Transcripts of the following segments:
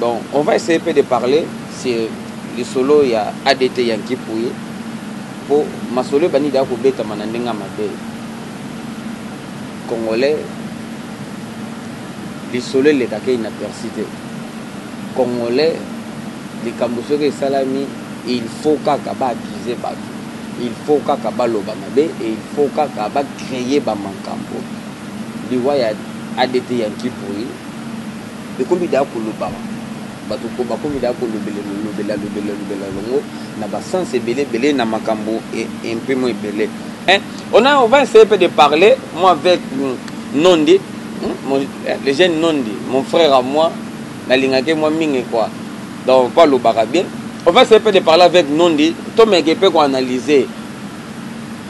Donc on va essayer pe de parler sur lisolo ya ADT ya Nkipuyi po masolo ebandi deja kobetama na ndenge ya mabe. Congolais lisolo elekaka ye inaperci te. Congolais likambo soki esalami il faut kaka ba accuser batu, il faut kaka baloba mabe et il faut kaka ba creer ba mankambo. Liwa ya ADT ya Nkipuyi. Ekomi dejà kolobama, batu bakomi dejà kolobelelo lobela lobela lobela longo na ba sens ebele ebele na makambo impimo ebele eh on a on va essayer peu de parler moi avec Nondi le jeune Nondi mon frère à moi nalingaki mwa mingi quoi donc po alobaka bien on va essayer peu de parler avec Nondi tomeke pe ko analyser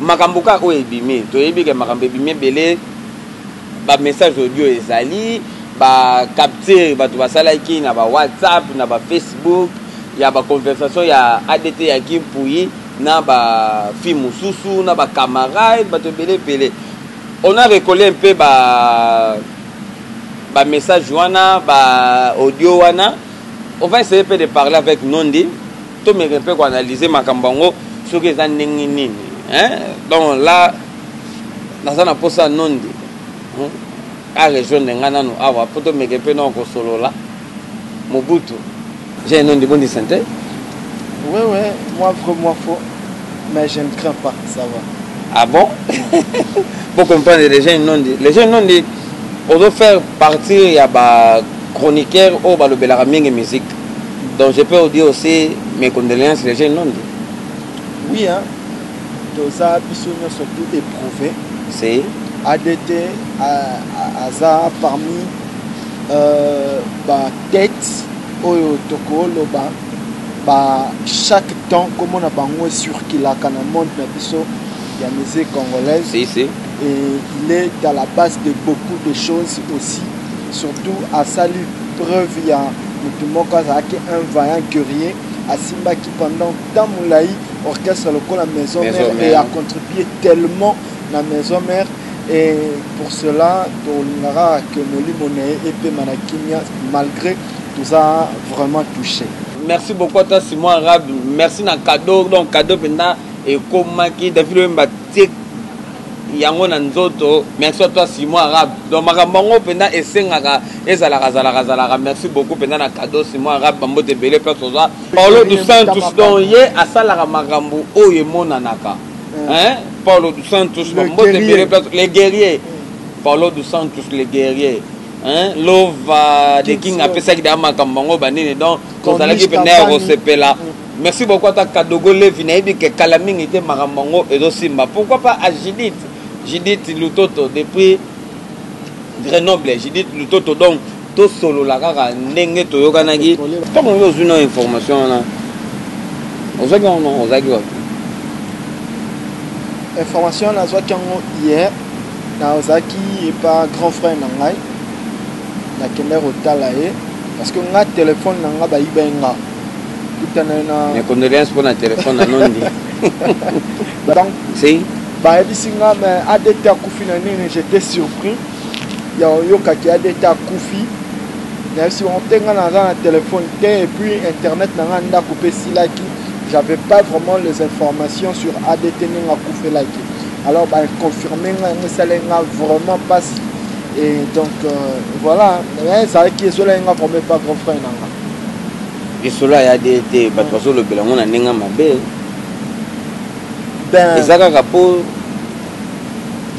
makambo kaka oyo ebimi toyebi ke makambo ebimi ebele Ba message audio ezali ba capture batu basalaki na ba WhatsApp na ba Facebook ya ba conversation ya ADT ya Guy Mpuyi na ba fille mususu na ba camarade batu ebele ebele on a recolle un peu ba ba message wana ba audio wana on va essayer pe de parler avec Nondi To meke mpe ko analyser makambo yango soki eza ndenge nini. Hein? Donc là naza na posa nonde. Hein? A rejoindre nga nanu awa po to meke mpe nao kosolola. Mobutu. J'ai un nom de bonne santé. Oui, oui, moi vrai, moi faux. Mais je ne crains pas, ça va. Ah bon Pour comprendre les gens, non dit. Les gens, non dit, on doit faire partir, il y a des chroniqueurs, oh, bah, le musique. Donc je peux vous dire aussi mes condoléances les jeunes non Oui hein. Toza biso nyonso tout éprouvé. C'est ADT aza parmi euh, ba têtes oyo tokoloba ba chaque temps komona bango ecirculaka na monde na biso ya musique congolaise. Si, si. Et il est à la base de beaucoup de choses aussi. Surtout asali preuve ya Mutu moko azalaki un vaillant guerrier, asimbaki pendant temps mulayi orchestre lokola maison mère et a contribue tellement na maison mère et pour cela tolinga kaka que molimo na ye epema na kimia malgre toza vraiment touche. Merci beaucoup à toi Simon Arabe, merci na cadeau donc cadeau penza ekomaki David Wemba. tie yango na nzoto merci à toi Simon Arabe donc makambo yango mpenza esengaka ezalaka zalaka zalaka merci beaucoup mpenza na cadeau Simon Arabe bambote ebele place oza Paulo dos Santos donc ye asalaka makambo oyo emonanaka hein Paulo dos Santos bambote ebele place le guerrier Paulo dos Santos le guerrier hein lova de king apesaki da makambo yango banini donc tozalaki mpenza ya kosepela Merci beaucoup ata kadogo levi nayebi ke kala mingi te makambo yango ezosimba pourquoi pas à Judith Judith Lutoto depuis Grenoble Judith Lutoto donc tosolola kaka ndenge toyokanaki ntango yo ozwi na information wana ozwaki yango nongo ozalaki wapi information nazwaki yango hier nazalaki epa grand frère na ngai na kenda kotala ye parce que nga telephone na nga bayiba ye nga kutana ye na mes condoléances mpo na telephone na nondi donc si bayebisi nga mais adt akufi na nini j'étais surpris ya oyokaki adt akufi nayebisi bango te nga naza na telephone te et puis internet na nga ndako mpe esilaki j'avais pas vraiment les informations sur adt ndenge akufelaki alors baconfirme nga yango esali nga vraiment mpasi Et donc euh, voilà, mais ça qui est cela nga comme pas grand frère nanga. Et cela ya de te bato bazo lobela ngona nenga mabe. Ben eza kaka po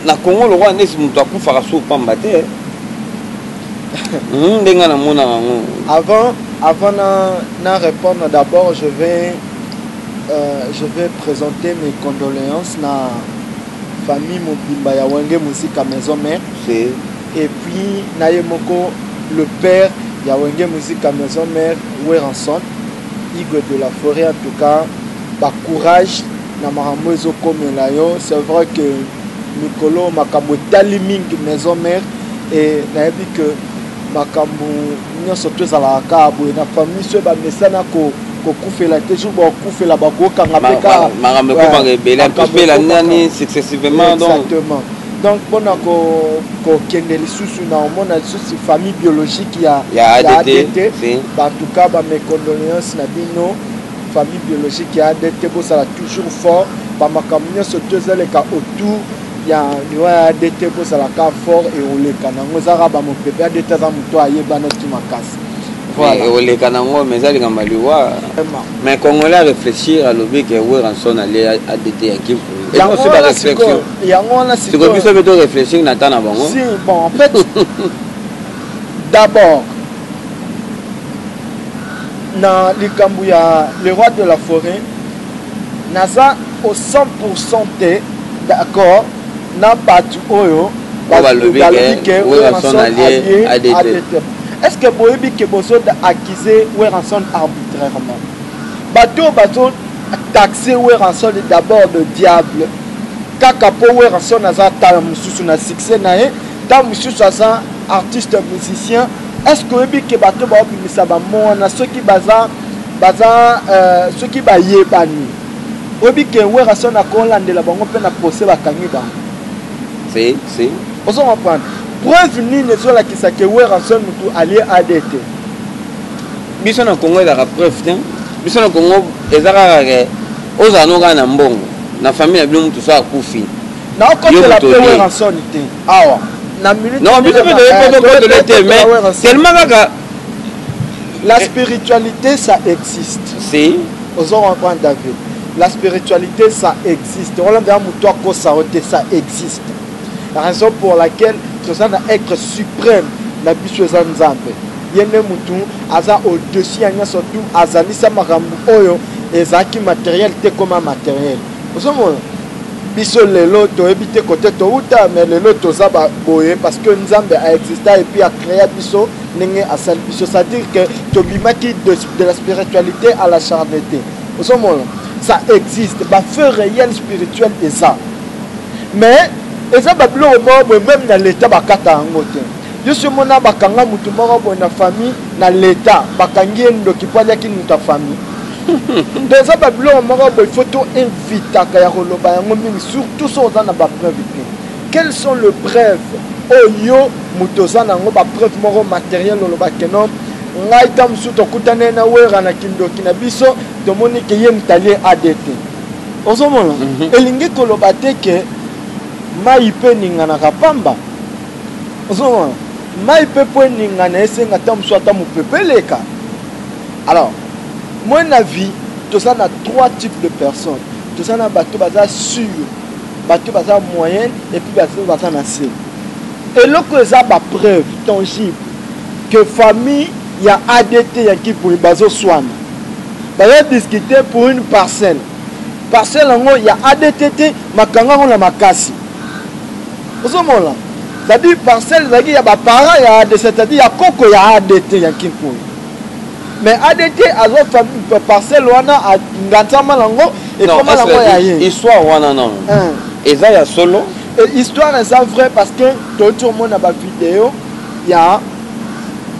na Congo le roi nesi mutu akufaka so pamba te. Hmm, ndenge na mona yango. Avant avant na na répondre d'abord je vais euh, je vais présenter mes condoléances na Famille mobimba ya Wenge Musica Maison Mère et puis na ye moko le père ya Wenge Musica Maison Mère Werrason Igwe de la Foret en tout cas ba courage na makambo ezo komela yo c'est vrai que mikolo makambo etali mingi Maison Mère et nayebi que makambo nyonso to ezalaka kaka boye na famille soki bamesana kokufela te jour bakufela bakokanga mpe kaka makambo ekobanga ebele akufela nani successivement exactement donc mpona kokende lisusu na omona lisusu famille biologique ya adt batuka bamecondoléance na bino famille biologique ya adt bosala toujours fort bamakambo nyonso to ezaleka autour ya liwa ya adt ekozala ka fort eoleka nango eza kaka bamopepe adt aza moto ayebanaki makasi eoleka nango mais eza likambo ya liwa mais congolais areflechir alobi ke weranson alie adt ya kimpu ekosi bareflexion yango wana siko biso mpe toreflechir na ta na bango si bon en fait d'abord na likambo ya le roi de la forêt Naza au 100 pourcent te d'accord na batu oyo balobi que Werrason alie ADTM. Est ce que boyebi que bozo accuser Werrason arbitrairement? Batu oyo bazo taxer Werrason d'abord de diable kaka po Werrason aza tala mosusu na succès na ye, ntango mosusu aza artiste musicien Est-ce que oyebi ke bato ba obimisa ba mots wana soki baza baza euh, soki bayebani oyebi ke Werrason akolandela bango mpe na procès bakangi bango si si ozo comprendre preuve nini ezolakisa ke Werrason motu alie AD te biso na Congo ezaka preuve te biso na Congo eza kaka ke ozala no kaka na mbongo na famille na bino motu so akufi naokotela mpe Werrason te awa na minute non biso pe toyebi poto kotole te mais tellement kaka la eh. spiritualité ça existe si ozo comprendre david la spiritualité ça existe olanda ya moto akosa yo te ça existe la raison pour laquelle toza na être suprême na biso eza nzambe ye nde motu aza au-dessus ya nyonso tu azalisa makambo oyo ezalaki materiel te koma materiel ozomona Biso lelo toyebi te kote towuta mais lelo toza ba boye parce que Nzambe a exista et puis a crea biso ndenge asali biso ça dire que tobimaki de, de la spiritualité à la charnete ozomona ça existe ba feu réel spirituel eza mais eza babiloko moko boye meme na leta bakata yango te yo si omona bakanga motu moko boye na famille na leta bakangi ye ndoki mpo aliaki moto ya famille donc eza babiloko moko boye faut to invitaka ya koloba yango mingi surtout so oza na bapreuve te quelles sont le preuve oyo oh, moto oza na yango bapreuve moko matériel oloba kenom ngai ta mosusu tokutana na wera na kindoki na biso tomoni ke ye moto alie adt ozomona mhm. elingi koloba te ke mai mpe eninganaka pamba Ozo mona? Mayi pe po eningana esenga ata mosusu ata mopepe eleka. Alors, moi na vie toza na trois types de personnes. Toza na bato baza sur, bato baza moyenne et puis bato baza na se. Eloko eza ba preuves tangibles que famille ya ADT ya Nkipuyi bazo swana. Bazo discuter pour une parcelle. Parcelle yango ya ADT te, makanga yango na makasi. ozomona zadi parcelle ezalaki ya baparent ya adt c'est-à-dire ya koko ya adt ya nkinkoyo mais adt azwa parcelle wana angansama nango ekoma nango ya ye histoire wana non eza ya solo histoire eza vrai parce que toyoti omona bavideo ya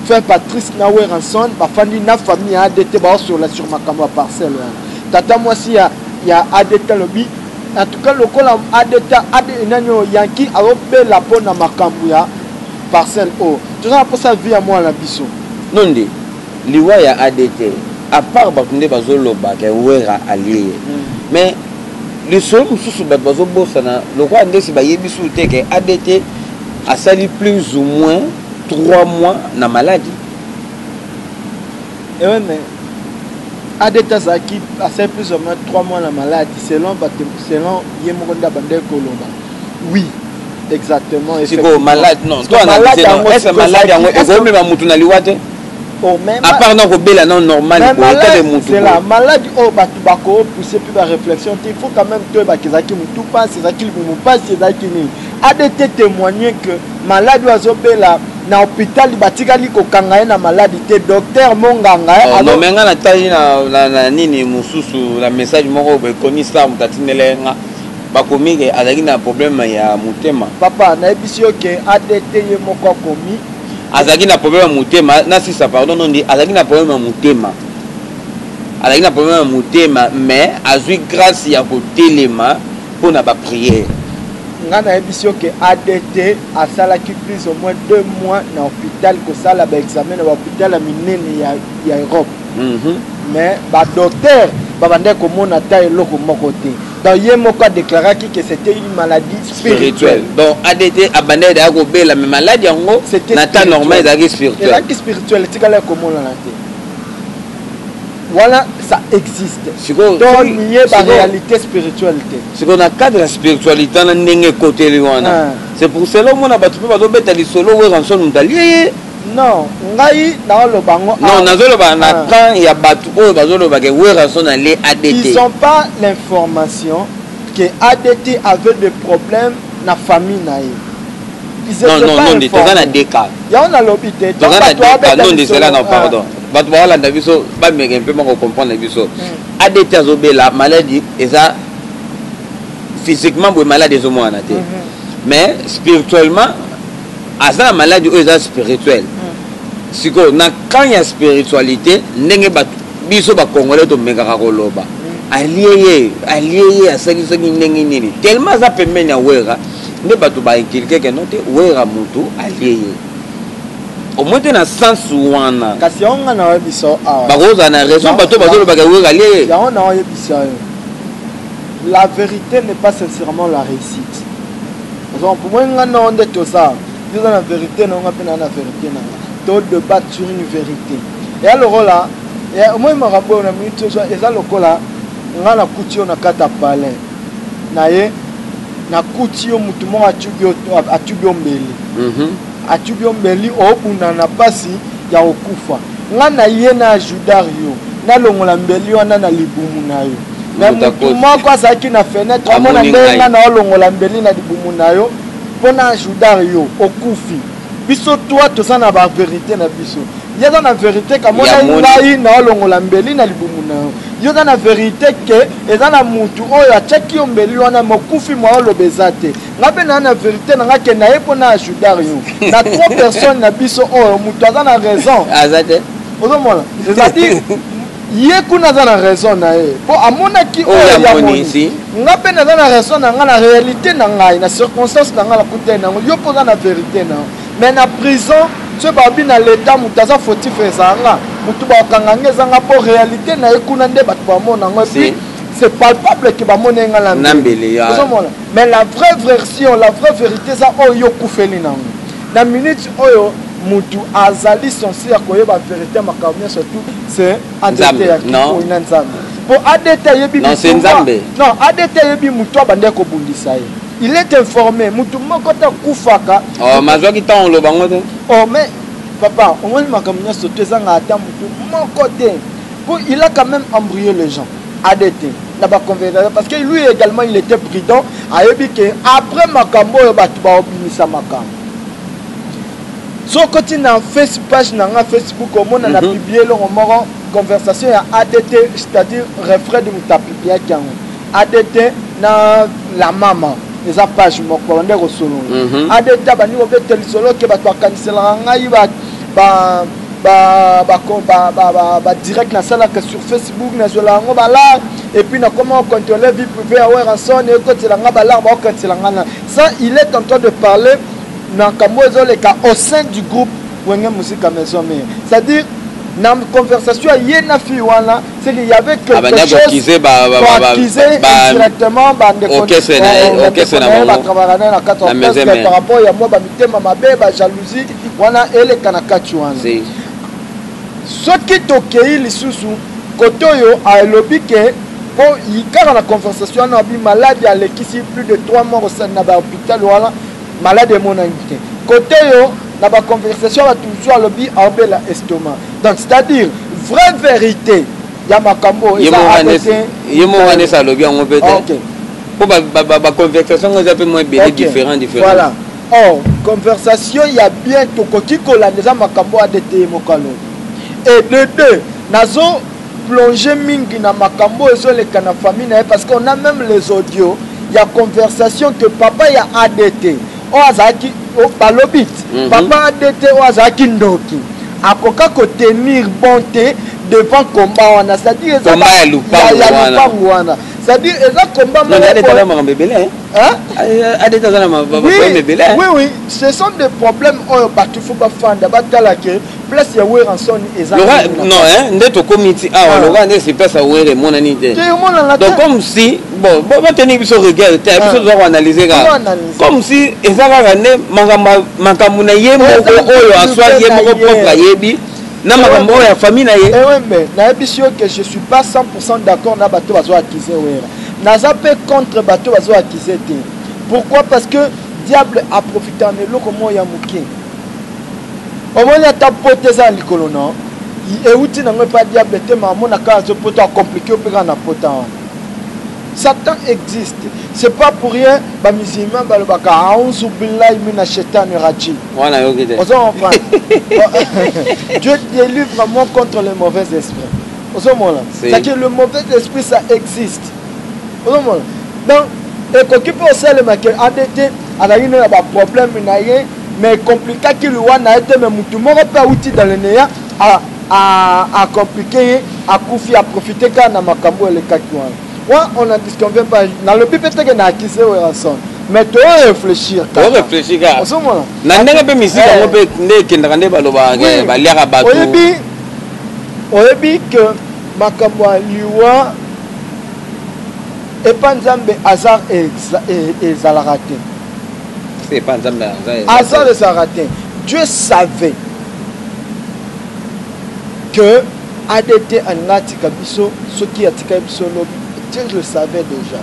fin patrice na weranson bafandi na famille ya adt baosola sur makambo ya parcelle wana tata mwasi ya ya adt alobi En tout cas lokola adeta ad nani oyo Yankee azobela mpo na makambo ya parcelle oyo toza na mposa vie ya mwana na biso. Nonde liwa ya adt a part batu nde bazo loba ke werra alie ye mais lisolo mosusu batu bazo bosana lokola nde esi bayebisi ou te ke adt asali plus ou moins 3 mois na maladi Eh ouais, mais ADT azalaki asali plus ou moins 3 mois na malade selon bato selon ye moko nde abandaki koloba oui exactement sikoyo malade non to analyse non est ce que malade yango ekomema motu na liwa te oh, apart na kobela na normal boyetabe motula maladi oyo oh, bato bakopousse mpe baréflexion te il faut quand même toyebaka ezalaki motu mpasi ezalaki libumu mpasi ezalaki nini adt témoigne que malade oyo azobela na hôpital batikali kokanga ye na maladi te docteur monganga eh, oh, nome nga natali na nini mosusu na message moko ekomi star moto atindela ye nga bakomi ke azalaki na problème ya motema papa nayebisi yo ke adt ye moko akomi azalaki na problème ya motema nasisa pardon nondi azalaki na problème ya motema azalaki na problème ya motema mais azwi grâce ya kotelema pona ba prière. Nga nayebisi yo ke ADT asalaki plus au moins deux mois na hopital kosala ba examen na ba hopital ya minene ya, ya Europe mm -hmm. mais ba docteur babandaki komona ata eloko moko te donc ye moko adéclaraki que c'était une maladie spirituelle donc adt abanda ezalaki kobela mais maladi yango na temps normal ezalaki spirituelle ezalaki spirituelle etikala ekomonana te wana ça existe to nie ba réalité spirituelle te sikoyo na cadre ya spiritualité wana ndenge ekoteli wana ah. c'est pour cela omona bato mpe bazobeta lisolo weranson moto alie ye non ngai naoloba yango non nazoloba na ah. camp ya bato oyo bazoloba ke weranson alie adt ils ont pas l'information que adt avait des problèmes na famille na ye non non non toza na deka yango nalobi te toza na deka non ndezelaka pardon ah. bato baolanda biso bameke mpe bako comprendre biso mm. adt azobela maladi eza physiquement boye maladi ezomonana te mm-hmm. mais spirituellement aza na maladi oyo eza spirituel mm. sikoyo na camp ya spiritualité ndenge bato biso bacongolais tomekaka koloba mm. alie ye alie ye asali soki ndenge nini tellement aza pembeni ya wera nde bato bainculke keno te wera motu alie ye omoi te na sens wana kasi yango ngai naoyebisa yo awa bakozala na raison bato bazolobaka ewekalie yango naoyebisa yo la vérité n'est pas sincèrement la réussite donc moi nga na onde toza toza na vérité na nga pe na na vérité na nga to débat sur une vérité ya lokola moi makambo oyo na minute oyo eza lokola nga na kuti yo na kati ya palais na ye na kuti yo motu moko atubi yo mbeli mhm. Atubi yo mbeli obunda na pasi ya okufa nga na ye na ajudar yo nalongola mbeli wana na libumu na yo me motu moko azalaki na fenetre amona ndenge nga na olongola mbeli na libumu na yo mpo na ajudar yo okufi biso twa toza na baverite na biso ye aza na verite kamona ngai na olongola mbeli na libumu na yo yo oza na verite ke eza na motu oyo atyaki yo mbeli wana mokufi mwa oloba eza te nga mpe naa na verité na nga kenda ye mpo na ajudar yo na trop personne na biso oyo oh, moto aza na raison aza te ozomona ezaladi ye kuna aza na raison na ye mpo amonaki oyo oh, yamoni nga mpe naza na raison na nga na réalité na ngai na circonstance na nga na kutai na yango yo mpo oza na verité na yo mais na prison soki babi na leta moto aza fautif ezala nga moto bakanga nga eza nga mpo réalité na ye kuna nde bato bamona yango epuis c'est palpable ke bamoni ye nga na mbele ozomona Mais la vraie version, la vraie verite eza oyo yo okufeli nango. Na minute oyo mutu azali sensi ya koyeba verite ya makambo nyonso tu c'est ADT ya kikoi na Nzambe. Po ADT ayebi non, c'est Nzambe. Non, ADT ayebi mutu abandaki kobundisa ye. Il est informé, mutu moko te akufaka. Oh, mazwaki ntango oloba ngo te. Oh, mais papa, omoni makambo nyonso tu ezanga ata mutu moko te. Po il a quand même embrouillé les gens. adt na ba conversation parce que lui également il était prudent ayebi ke après makambo oyo bato baobimisa makambo soki oti na face page na nga facebook omona na mhm. publie eloko moko conversation ya adt c'est-à-dire refrain de mutapipiaki yango adt na la mama eza page moko babandi kosolola mhm. adt abandi kobeta lisolo ke bato bakaniselaka ngai ba ba, ba, ba, ba, ba, ba direct nasalaka sur facebook nazwela yango balar epuis nakoma ocontrole vie privé ya weranson ekotela nga balar baokanisela nga na ça il est en train de parler na kambo ezoleka au sein du groupe wenge musika maison mare c'est à dire na conversation ya ye na fille wana c'est qu'il y avait quelque ah, chose koaccuse indirectement bandekookesenaye batravaka naye na kati ya par rapport ya mwa bamitema mabe bajalousie Wana eleka na kati wana. Si. Soki tokei lisusu kote oyo alobi ke po kaka na conversation wana abi malade alekisi plus de 3 mois na ba hopital wana malade emonani te. Kote oyo na ba conversation ya batu mosusu alobi aobela estomac. Donc c'est à dire vraie verite ya makambo oyo eza abe te. Ye moko wana esi alobi yango pe te. Okay. Po ba, ba, ba, ba conversation yango eza pe mwa ebele okay. different different. Voilà. Or, conversation ya bien tokoki kolanda eza makambo ADT ye moko alobi. Et de deux, nazo plonger mingi na makambo oyo ezoleka na famille na ye parce qu'on a meme les audios ya conversation que papa ya ADT oyo azalaki balobi mhm. papa ADT oyo azalaki ndoki akoka kotenir bon te devant combat wana c'est-à-dire eza ya lupango wana c'est-à-dire eza combat moko Hein? Adet aza na problème ebele. Hein? Oui oui, ce sont des problèmes oyo bato faut ba fanda ba tala que place ya Weranson eza. Lora non hein, nde to komiti awa ah. lora nde c'est place ya Were monani te. Donc comme si bon bon ba tenir biso regard te, ah. biso doit analyser ka. Comme si eza kaka nde makambo makambo na ye moko oyo aswa ye moko propre ayebi. na makambo oyo ya famille na ye. Eh oui mais nayebisi yo que je suis pas 100% d'accord na bato bazo accuser Wera. naza pe contre bato bazo accuse te pourquoi parce que diable aprofita na eloko moko ya moke omoni ata poto eza na likolo na euti nango epa diable te ma amonaka azo poto acomplike yo mpe kaka na pota wana satan existe c'est pas pour rien bamusulman balobaka auzu billahi mina shetani rajim wana yoki te ozo comprendre dieu délivre moi contre les mauvais esprits ozomona cetadire le mauvais esprit ça existe ozomona donc ekoki mpe osalema ke adt azalaki nde na baproblème na ye mais complikaki liwa na ye te mais motu moko mpe awuti dans le neya acomplike ye akufi aprofite kaka na makambo elekaki wana wana on en disconvient pas nalobi mpe teke na akise werrason mais tooreflechir oreflechir kaka ozomona na ndenge mpe misiki yango mpe nde ekendaka nde balobaka baliaka bato oyebi Oyebi que makambo ya liwa epa nzambe hasard ezalaka te. Hasard ezalaka te. Dieu savait que ADT alinga atika biso soki atika biso lobi. Dieu le savait déjà.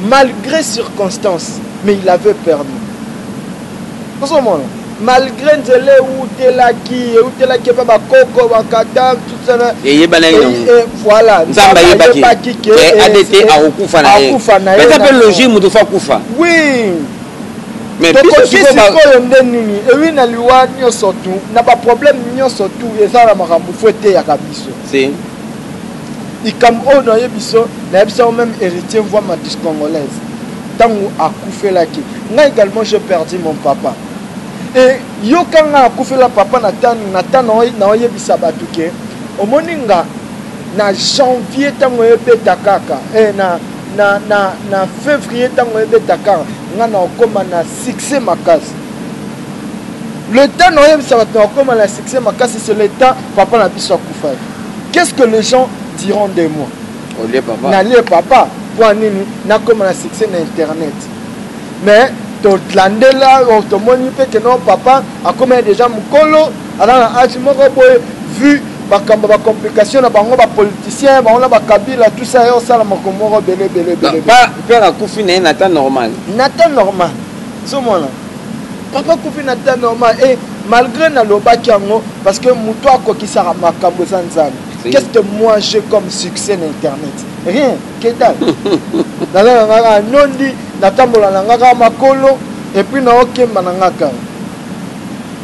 Malgré circonstances, mais il avait permis. ozo mona malgre nzela ewutelaki ewutelaki epa bakoko bakata tutana eyebanaki nango eh, voilà nzambe ayebaki ke eh, adt eh, akokufa na ye eza mpe logique moto fa kufa oui tokoki sikoyo nde nini ewi na liwa nyonso tu na baproblème nyonso tu eza na makambo fo eteyaka biso Likambo oyo na yebi so na yebisi yango meme Heritier Mvua Matus Congolaise tangu akufelaki nga egalement j'ai perdu mon papa et yoka nga akufela papa na tan na tan na na yebisa batu ke omoni nga na janvier tango ebeta kaka eh, na na na na fevrier tango ebeta kaka nga na okoma na succès makasi Le temps na oyebisa bato na okoma na succès makasi c'est le temps papa na biso akufaki. Qu'est-ce que les gens diront de moi? Olie papa. Nalie papa mpo nini nakoma na succès na internet. Mais tolandela oh, tomoni mpe ke no papa akomaki déjà mokolo aza na age moko boye vu bakambo bacomplication na bango bapoliticien bango na bakabila tout ça ye osala makambo moko belebelebele mpe nakufi na ye na temps normal na temps normal ozomona papa kufi na temps normal et malgré nalobaki yango parce que moto akokisaka makambo eza nzambe qu'est-ce que moi j'ai comme succès na internet rien ketal naza na nga kaka nondi natambola na nga kaka makolo epuis naokemba na nga kaka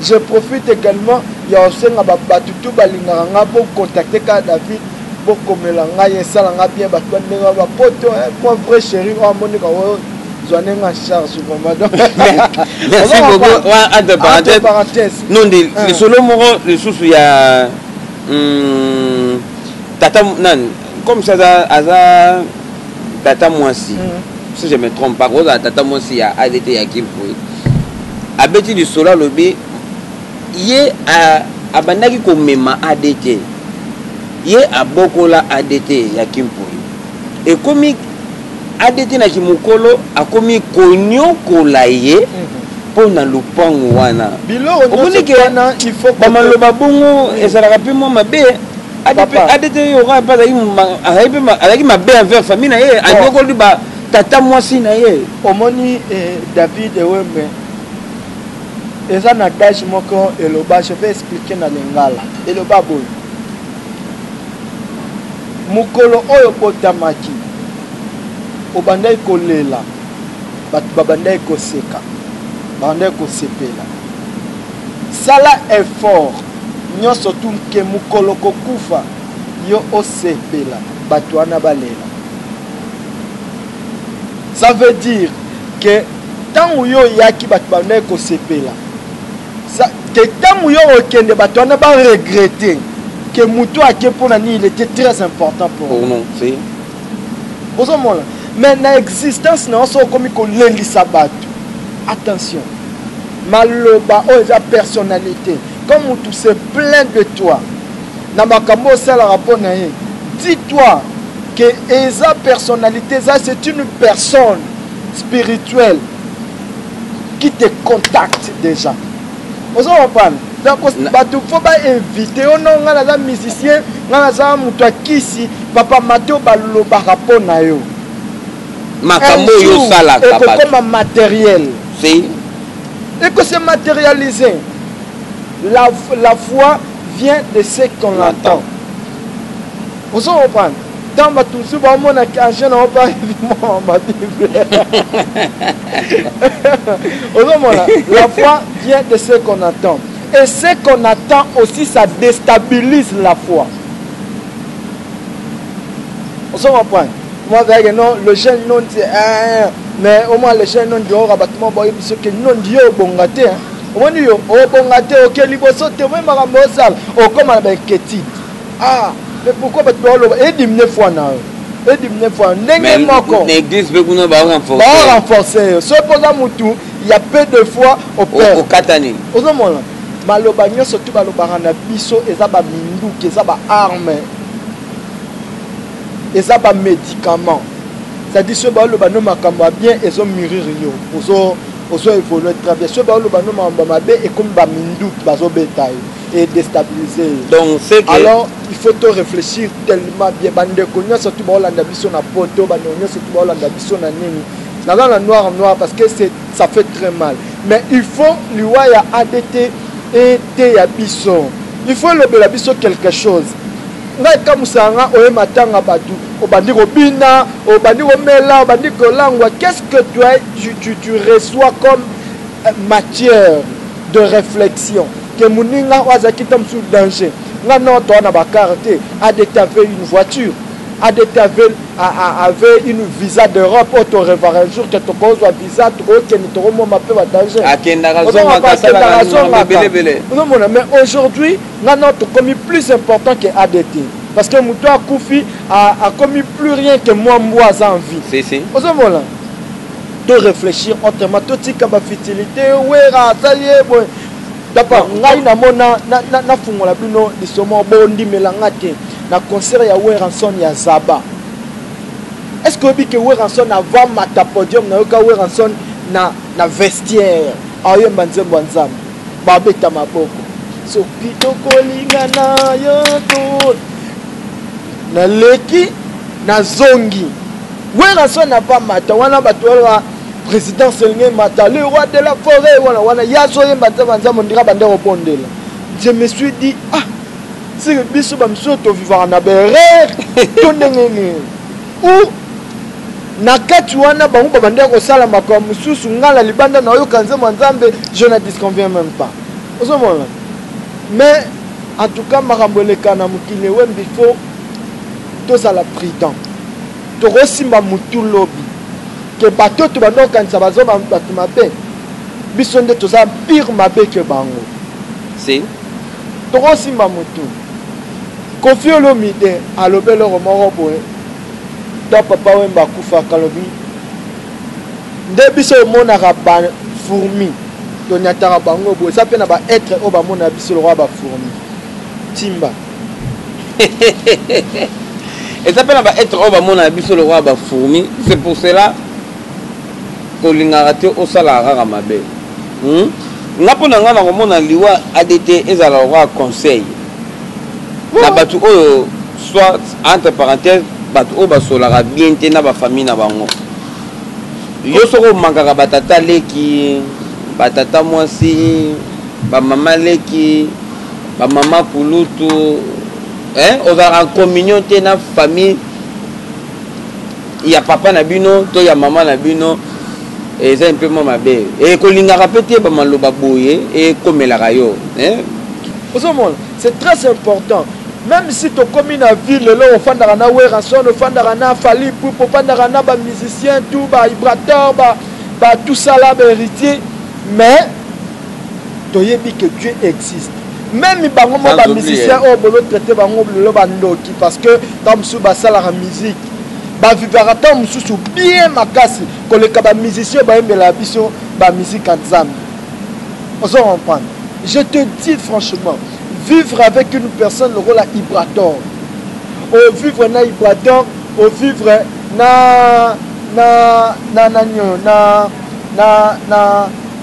je profite également ya kosenga babato tu balingaka nga bocontacte kaka david bokomela ngai esala nga bien bato bandenge bapoto eh, mwa vrai chéri oyo amoneka oyo zwa ndenge en charge vraiment donc merci beaucoup wa entre parenthèse parenthèse non de ah. lisolo moko lisusu ya hmm, tata nani comme ça aza aza tata mwasi hmm. si je me trompe pas kozala tata mwasi ya adt ya kimpoe abeti lisolo alobi ye abandaki komema adt ye abokola adt ya kimpoe ekomi adt na kimokolo akomi koniokola ye mpo mhm. na lopango wana bamaloba bongo ezalaka mpe mwa mabe adt yoka mpe azalaki mabe envers famille na ye anyokoli ba tata mwasi na ye omoni eh, david ewembe eza na dage moko eloba je vais expliquer na lingala eloba boye Mokolo oyo obotamaki, obandaki kolela, bato babandaki koseka, babandaki kosepela. Sala effort nionso tu que mokolo okokufa, yo osepela, bato wana balela. Ça veut dire que tango yo oyaki, bato babandaki kosepela. ke ntango yo okende bato wana ba regrette ke moto ake mpo na nini il était très important pour nous ozomona mais na existence na yo so okomi kolelisa bato attention maloba oyo eza personnalité quand motu se plaint de toi na makambo osalaka mpo na ye dis toi que eza personnalité eza c'est une personne spirituelle qui te contacte déjà ozo comprendre donc bato fo bainvite yo no ngai naza musicien ngai naza moto ya kisi papa mato balobaka mpo na yo makambo oyo osalaka ekokoma matériel eko se matérialiser la, la foi vient de ce qu'on entend ozo comprendre Tant ba toujours ba mona ki agent na opa vraiment ba bible. Ozo mona la foi vient de ce qu'on attend et ce qu'on attend aussi ça déstabilise la foi. Ozo comprendre? Moi avec non le jeune non c'est hein, mais au moins le jeune non dehors abattement boye biso que non dio bonga te. Hein? omoni yo obonga te oke liboso te omoi makambo osala okóma na bainquiétude Ah, mais pourquoi batu baoloba edimine foi na yo edimine foi na yo ndenge moko na église mpe kuna barenforce barenforce yo soki mpo oza motu ya peu de foi opekata nini ozomona maloba nyonso tu balobaka na biso eza baminduki eza baarme eza bamédicament c'est-à-dire soki baoloba no makambo ya bien ezo murir yo ozo ozo évolue très bien soki baoloba no makambo ya mabe ekomi baminduki bazobeta yo e destabilise donc c'est que alors il faut to réfléchir tellement bien bandeko nyonso tu baolanda biso na poto bandeko nyonso tu baolanda biso na nini naza na noir noir parce que c'est ça fait très mal mais il faut liwa ya adt eteya biso il faut elobela biso quelque chose ngai ekamusa nga oye matanga bato obandi kobina obandi komela obandi kolangwa qu'est ce que tu, tu, tu, tu reçois comme euh, matière de reflexion ke moninga oyo azalaki ntango mosusu danger nga nao toa na bakar te adete avait une voiture adete avait, avait une visa d'europe oyo torevaka un jour ke tokozwa visa tokokende tokomoma mpe badanger ozomona mais aujourd'hui nga nao tokomi plus important ke adete parce que moto akufi akomi plus rien ke mwa mbwa aza en vie ozomona to réfléchir autrement totika ba futilité wera asali ye boye dapa ngai namona nafungola bino lisomo bondimela nga te na concert ya weranson ya zaba est ce que oyebi ke weranson avant mata podium nayoka weranson na, na vestiaire aoyemba nzembo ya nzambe babeta maboko soki tokolinga na yo naleki nazongi werrason na pa mata wana bato wana président selenge mata le roi de la forêt wana wana ye azoyemba nzambe ya nzambe ondira bande kobondela je me suis dit ah seke biso bamisusu tovivaka na berere to ndenge nini Ou na kati wana bango babandaki kosala makambo mosusu, ngai na libanda nayoka nzembo ya Nzambe, je ne disconviens meme pas. Ozomona? Mais en tout cas makambo eleka na mokili ewembi, faut tozala prudent, tokosimba mutu lobi ke bato oyo tobanda kokanisa baza bato mabe, biso nde toza pire mabe ke bango. Si. Toko simba mutu. Koffi olomide alobi eloko moko boye tant papa wemba akufaka alobi nde biso omonaka ba fourmi tonyataka bango boye eza pe na ba etre oyo bamonaka biso lokola ba fourmi timba eza pe na ba etre oyo bamonaka biso lokola ba fourmi c'est pour cela tolingaka te osalaka kaka mabe Hum nga mpo na nga nakomona liwa adt ezala lokola conseil na bato oyo soit entre parenthèse bato oyo basolaka bien te na bafamille na bango yo soki omankaka batata leki batata mwasi bamama leki bamama kulutu ozalaka en communion te na famille ya papa na bino to ya mama na bino eza mpe mwa mabe e, kolingaka mpe te bamaloba boye ekomelaka yo eh? ozomona c'est très important même si tokomi na ville lelo ofandaka na werrason ofandaka na fali pup ofandaka na bamusicien tout baibrator ba, ba tout ça là baheritier mais toyebi que dieu existe meme bango mwa bamusicien oyo bolotraite bango lelo bandoki parce que ntango mosusu basalaka musike bavivaka ntango mosusu bien makasi koleka bamusicien oyo bayembelaka biso bamusike ya nzambe ozo comprendre je te dis franchement vivre avec une personne lokola ibrator ovivre na ibrator ovivre na na na nani oyo na na na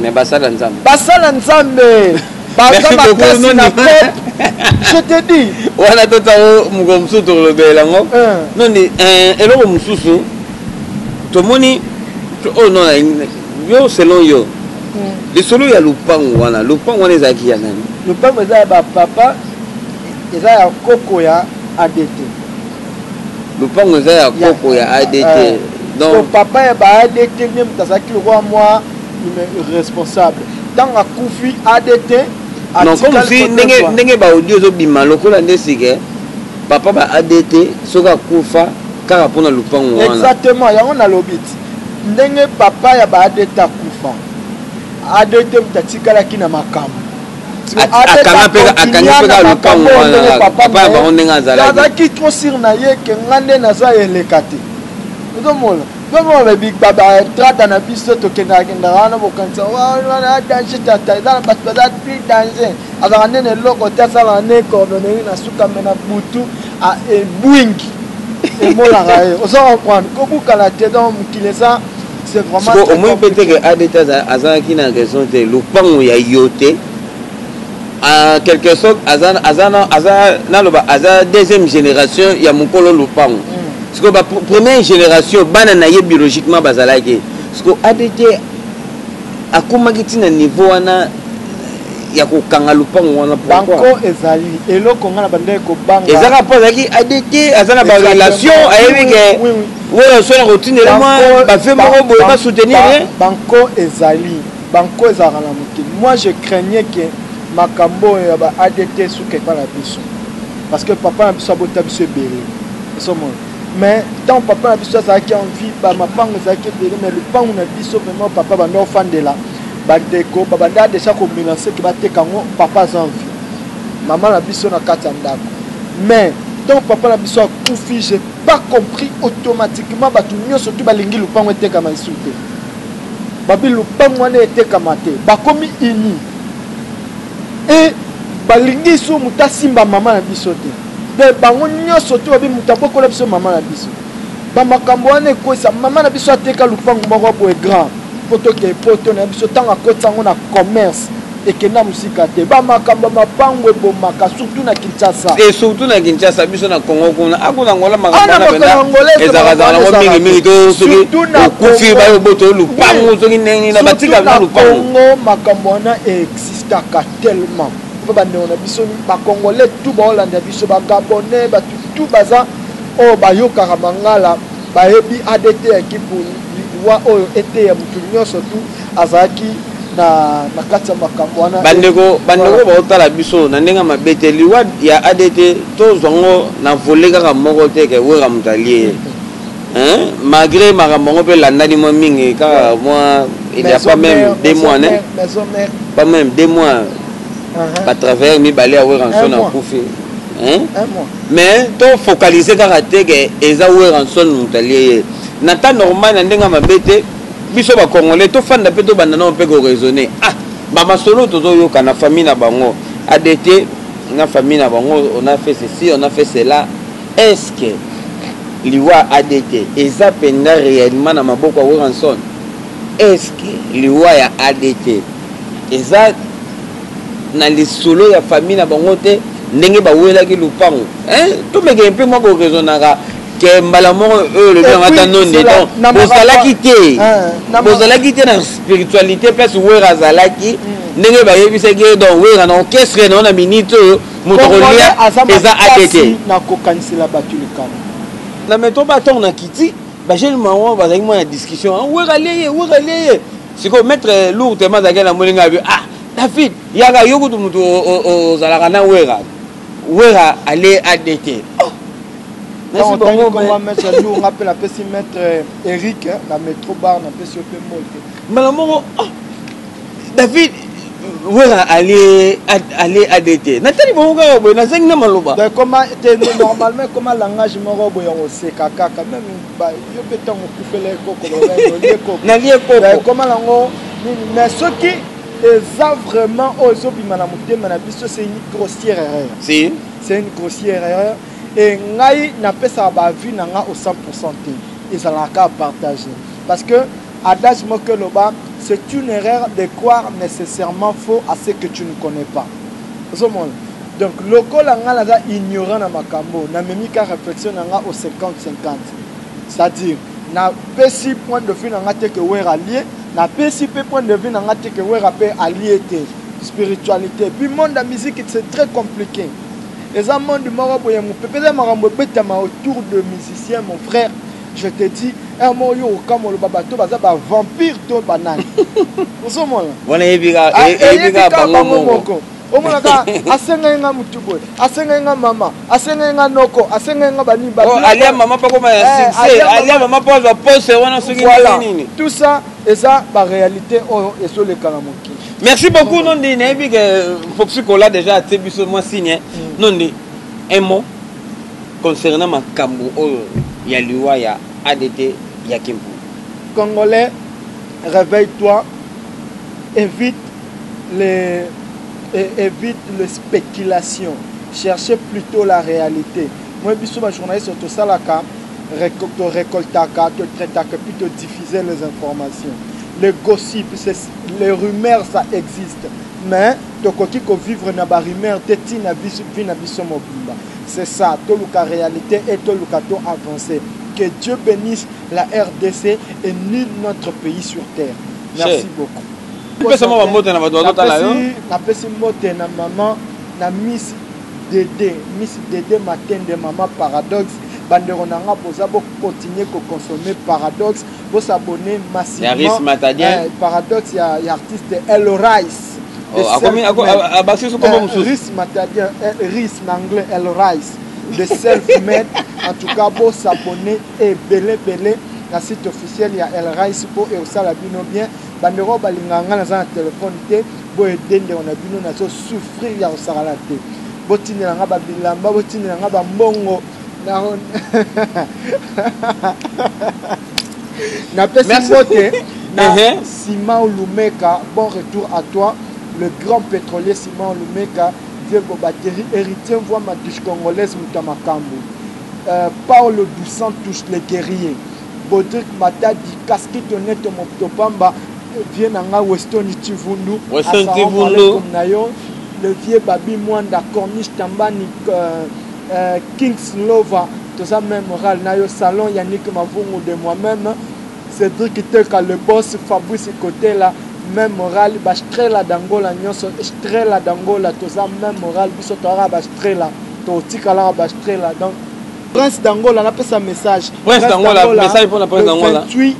Mais basala nzambe. Basala nzambe. Baza makasi na pop. Je te dis. Wana tota o moko mususu tolobela ngo. Eh. Noni eh eloko mususu tomoni oh non yo selon yo. Hmm. Lisolo ya lupangu wana, lupangu wana ezalaki ya nani? Lupangu eza ya ba papa eza ya koko ya ADT. lupango eza ya koko ya adt eh. donc papa ya ba adt nde moto azalaki lokola mwa responsable ntango akufi adt non comme si ndenge, ndenge baaudio ezobima lokola nde sike papa ba adt soki akufa kaka mpo na lupango wana exactement yango nalobi ti ndenge papa ya ba adt akufa adt moto atikalaki na makambo akanga mpe akangi mpe kaka lopango wana papa ya bango ndenge azalaki azalaki trop sur na ye ke nga nde naza eleka te ozomona tomona batrata na biso tokendaka kendaka wana bokanisa wana danger tata eza na bato baza plus danger azalaka nde na eloko te asalaka nde coordonneri na suka me na butu ebwingi emonaka ye oza comprendre kobukana te donc mokili eza siko omoni mpe te ke adt azalaki na raison te lopango ya yo te en quelque sorte aza naloba aza deuxième génération ya mokolo lopango mm. siko première génération bana na ye biologiquement bazalaki siko adt akomaki ntina niveau wana ya kokanga lopango wana banko ezali eloko ngai na bandeki kobanga ezaka mpo azalaki adt aza na barelation ayebi ke oyo so na kotindela mwa bafe moko boye basoutenir ye banko ezali banko ezalaka na mokili moi je craignais ke makambo oyo ya ba adt suka epai na biso parce que papa na biso abota biso ebele osomona mais ntango papa na biso azalaki en vie bamapango ezalaki ebele mais lopango na biso vraiment papa banda ofandela bandeko babanda deja komelanse ke bateka yango papa aza en vie mama na biso na kati ya ndako mais ntango papa na biso akufi pas compris automatiquement bato nyonso tu balingi lupango etekama esu te babi lupango wana etekama te bakomi uni e balingi isu moto asimba mama na biso te de bango nyonso tu babi moto abokola biso mama na biso bamakambo wana ekwesa mama na biso ateka lupango moko boye grand mpo tokei poto na biso ntango akotisa yango na commerce ekenda mosika te bamakambo ya mapango ebomaka surtout na kinshasa e surtout na kinshasa biso na congo kuna akuna ngola makamboezalakaango mingimingi to soki okufi bayo boto lupangu soki ndenge na batika na lupangucongo makambo wana existaka tellement mpo bandeko na biso bacongolais tu baolanda biso bagabonais batu tu baza oyo oh, bayokaka mangala bayebi adt ya kipuni liwa oyo eteya motu nyonso tu azalaki na na kati ya makambo wana bandeko bandeko oyo baotala biso na ndenge ya mabe te liwa ya adt tozwa ngo na vole kaka moko te ke wera moto alie ye malgré makambo yango mpe elandani mwa mingi kaka mwa il y a pas même deux mois ne pas même deux mois uh-huh. batravailleur mibale ya wera nso na kufi mais tofocalise kaka te ke eza wera nso moto alie ye na temps normal na ndenge ya mabe te biso ba congolais tofanda mpe tobanda nao mpe koraisonne ah bamasolo tozoyoka na famille na bango adete na famille na bango on a fait ceci on a fait cela est ce que liwa adt eza mpenza réellement na maboko ya wilkinson est ce que liwa ya adt eza na lisolo ya famille na bango te ndenge bawelaki lupango tomekee mpe mwa koraisonnaka ke mbala moko oyo olobi yango ata nonde donc bozalaki te eh, bozalaki te na spiritualité place wera azalaki hmm. ndenge bayebisaki ye donc wera na orchestre nao na minute oyo moto akolia eza atete nakokanisela bato likama na meto batongo na kiti bajeune mango bazalaki mwana discussion ah, wera leye wera leye sikoyo maître eh, lour tema azalaki na moninga abi ah david yaka yo kutu moto ozalaka na wera Werra ale adt oh. Merci beaucoup mais. Tango maître Lou nga pe na pesi maître euh, Eric euh, na metro bar na pesi yo pe mbote. Mbala moko oh. David wera ale ale adete natali bongo kaka boye nazangi na maloba ekoma te normalement ekoma langage moko boye ya koseka kaka meme yo mpe ntango okufela ekoko nalie ekoko ekoma nango nini mais soki Eza vraiment oyo ezo bima na motema na biso c'est une grossière erreur. Si. C'est une grossière erreur et ngai na pesa ba avis na nga au 100% te. Ezala ka partager parce que adage moko loba c'est une erreur de croire nécessairement faux à ce que tu ne connais pas. Ozo mona donc lokola nga naza ignorant na makambo na memi ka réflexion na nga au 50 50 c'est-à-dire Na pesi point de vue na nga te que werra alie, na pesi pe point de vue na nga te que werra pe alie te. Spiritualite puis monde ya musique c'est très complique. Eza monde moko boye mupepe eza makambo ebetama autour de musicien mon frère je te dis heure moko yo okokamwa oloba bato oyo baza ba vampire to ba nani ozo mona? Wana eyebi kaka bango moko. omonaka asengaki nga motu boye asengaki nga mama asengaki nga noko asengaki nga banini oh, alia mama mpo akoma ya eh, succès alia mama mpo azwa poste wana soki nini tout ça eza baréalité oyo ezoleka na mokili merci beaucoup nondi nayebi ke euh, foxi kola déjà atie biso mwa signe mm. nondi un mot concernant makambo oyo ya liwa ya adt ya kimpu congolais réveille toi évite le et evite le speculation chercher plutot la realite moi biso ba journaliste tosalaka to recoltaka to traitaka puis to diffuser les informations le gossip c'est les rumeurs ça existe mais tokoki ko vivre na ba rumeurs te ti na biso vie na biso mobimba c'est ça toluka realite et toluka to avancer que Dieu benisse la RDC et nul notre pays sur terre merci beaucoup Pesa mwa bambote na bato bazotala yo. Napesi mbote na mama na Miss Dede, Miss Dede Matende, mama Paradoxe. Bandeko na nga boza bo continuer ko consommer Paradoxe, bo s'abonner massivement. Eh, Paradoxe ya, ya artiste El Rice. Oh, akomi abakisi su kombo eh, mosusu. Rice Matadien, eh, Rice na anglais El Rice. The self made. en tout cas bo s'abonner ebele bele na site officiel ya El Rice po ekosala bino bien. Bandeko oyo balingaka nga naza na telephone te bo aider ndeko na bino nazo souffrir ya kosakana te botindela nga ba bilamba botindela nga ba mbongo na napesi mbote na Simao Lumeka bon retour à toi le grand pétrolier Simao Lumeka Diego Batterie héritier voix ma douche congolaise moto ya makambo euh, Paolo dos Santos le guerrier Bodrick Matadi, Casquito Neto Mopto Pamba, vieux na nga Westoni Tshivundu, Assalamu Alaikum na yo, le vieux Babi Mwanda, Corniche Tambani, euh, euh, Kings Lova, toza même moral na yo, Salon Yannick Mavungu de moi-même, Cédric Teka, le boss, Fabrice Kotela, même moral, ba Strela d'Angola nyonso, Strela d'Angola, toza même moral, biso toyaka ba Strela, totikalaka ba Strela, donc Prince d'Angola na pesa message. Prince d'Angola message pour la Prince d'Angola. 28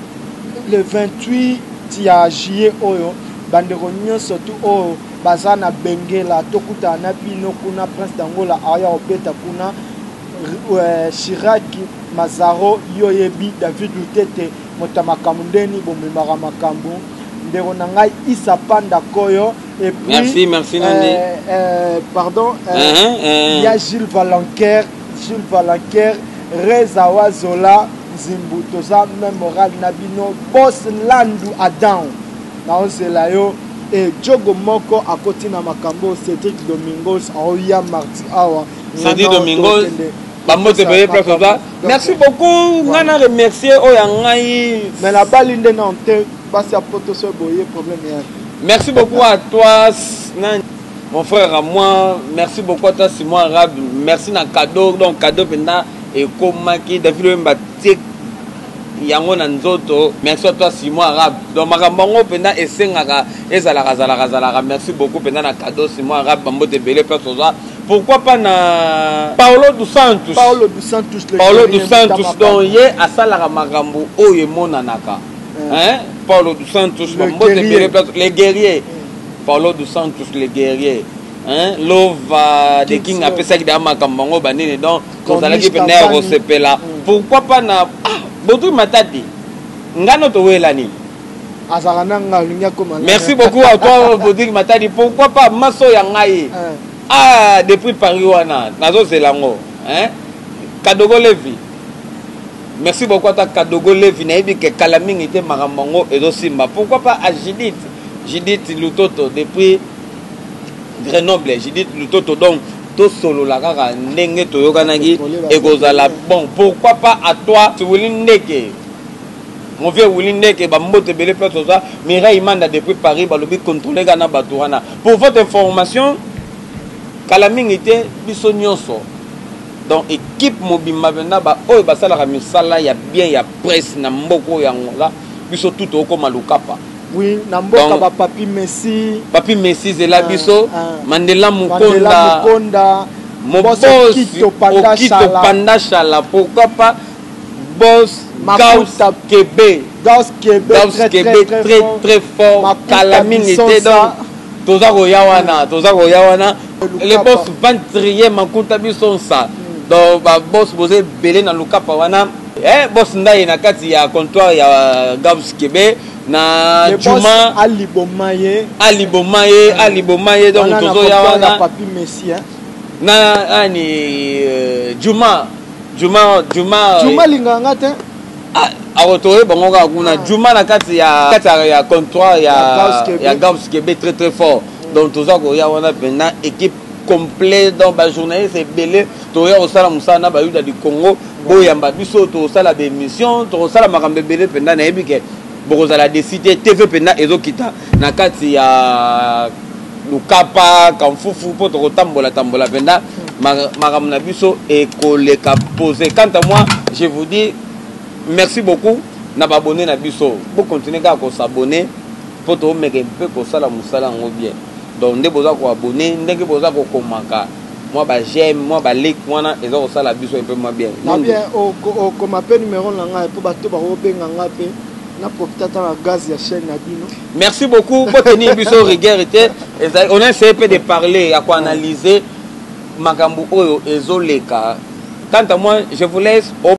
le 28 ya juillet oyo bandeko nyonso tu oyo baza na bengela tokutana na bino kuna prince d'angola aya kobeta kuna euh, shiraki mazaro yo oyebi david lutete moto ya makambo ndeni bomemaka makambo ndeko na ngai isa panda koyo Et puis, merci, merci Nani. Euh, euh, pardon, euh, uh -huh, uh -huh. il y a Gilles Valanquer, Gilles Valanquer, Reza Wazola, Zimbu, Toza, même Moral Nabino, Boss Landu Adam, naozela yo, et Djogo Moko akoti na makambo, Cédric Domingos, Aoya Marti Awa, Cédric Domingos, bambote boye place oza merci beaucoup ngai na remercier oyo ya ngai mais nabali nde na nte basi ya poto so boye problème ya Merci beaucoup à toi mon frère à moi merci beaucoup à toi Simon Arabe merci na cadeau donc cadeau penda ekomaki David Wemba tie yango na nzoto merci à toi Simon Arabe donc makambo yango mpenza esengaka ezalaka zalaka zalaka merci beaucoup mpenza na cadeau Simon Arabe bambote ebele mpe toza pourquoi pas na Paulo dos Santos Paulo dos Santos Paulo dos Santos donc ye asalaka makambo oyo emonanaka hein Paulo dos Santos, le guerrier. Les guerriers. Paulo dos Santos, les guerriers. Hein? Lova, des King apesaki da makambo yango banini donc tozalaki mpenza ya kosepela mm. pourquoi pas na ah, botui matadi ngano towela nini azalaka na ngai olingi akoma merci beaucoup à toi botui matadi pourquoi pas maso ya ngai eh. ah depuis paris wana nazozela yango hein? kadogo levi Merci beaucoup ata Kadogo Levi nayebi ke kala mingi te makambo yango ezosimba. Pourquoi pas à Judith Judith Lutoto depuis Grenoble Judith Lutoto donc tosolola kaka ndenge toyokanaki ekozala bon pourquoi pas à toi Wili Ndeke mon vieux Wili Ndeke bambote ebele place oza Mireille Manda depuis Paris balobi contrôler kana bato wana pour votre information kala mingi te biso nyonso Donc equipe mobimba penza ba oyo basalaka misala ya bien ya presse na mboka oyo ya Angola biso tout tokokoma lukapa. Oui, na mboka ba Papy Messi. Papy Messi zela biso. Mandela Mukonda. Mandela Mukonda. Mobos Okito Panda Shala. Pourquoi pas Boss Gauss Kebe. Gauss Kebe. Gauss Kebe très très fort. Kalamingi te donc. Toza koya wana, toza koya wana. le boss ventrier makuta biso nsa donc ba boss boza ebele na lukapa wana eh, boss ndaye na kati ya comptoir ya euh, gabs kebe na juma aliboma ye aliboma ye aliboma ye donc tozoya wana papi messi hein na ani euh, juma juma juma euh, juma linga nga te ah, akotoye bango kaka kuna ah. juma na kati ya kati ya comptoir ya ya gabs kebe très très fort donc toza koya wana mpena équipe complet donc bajournaliste ebele toya kosala mosala na bayuda du congo boyamba biso tokosala baémission tokosala makambo ebele mpenza nayebi ke bokozala desi te tv mpenza ezokita na kati ya lukapa kamfufu mpo tokotambola tambola mpenza makambo na biso ekoleka pose quant à moi je vous dis merci beaucoup na baabonne na biso bokontinue kaka kosabonne Faut to meka un peu ko sala musala yango bien. Donc nde boza ko abonne ndenge boza ko komaka mwa ba j'aime mwa ba like wana eza ko sala biso un peu mwa bien. Na bien o ko koma pe numero na ngai po bato ba ko benga ngai pe na profite ata na gaz ya chaîne na bino. Merci beaucoup pour tenir biso rigueur te. On a essayé peu de parler ya ko analyser makambo oyo ezoleka. Quant à moi, je vous laisse au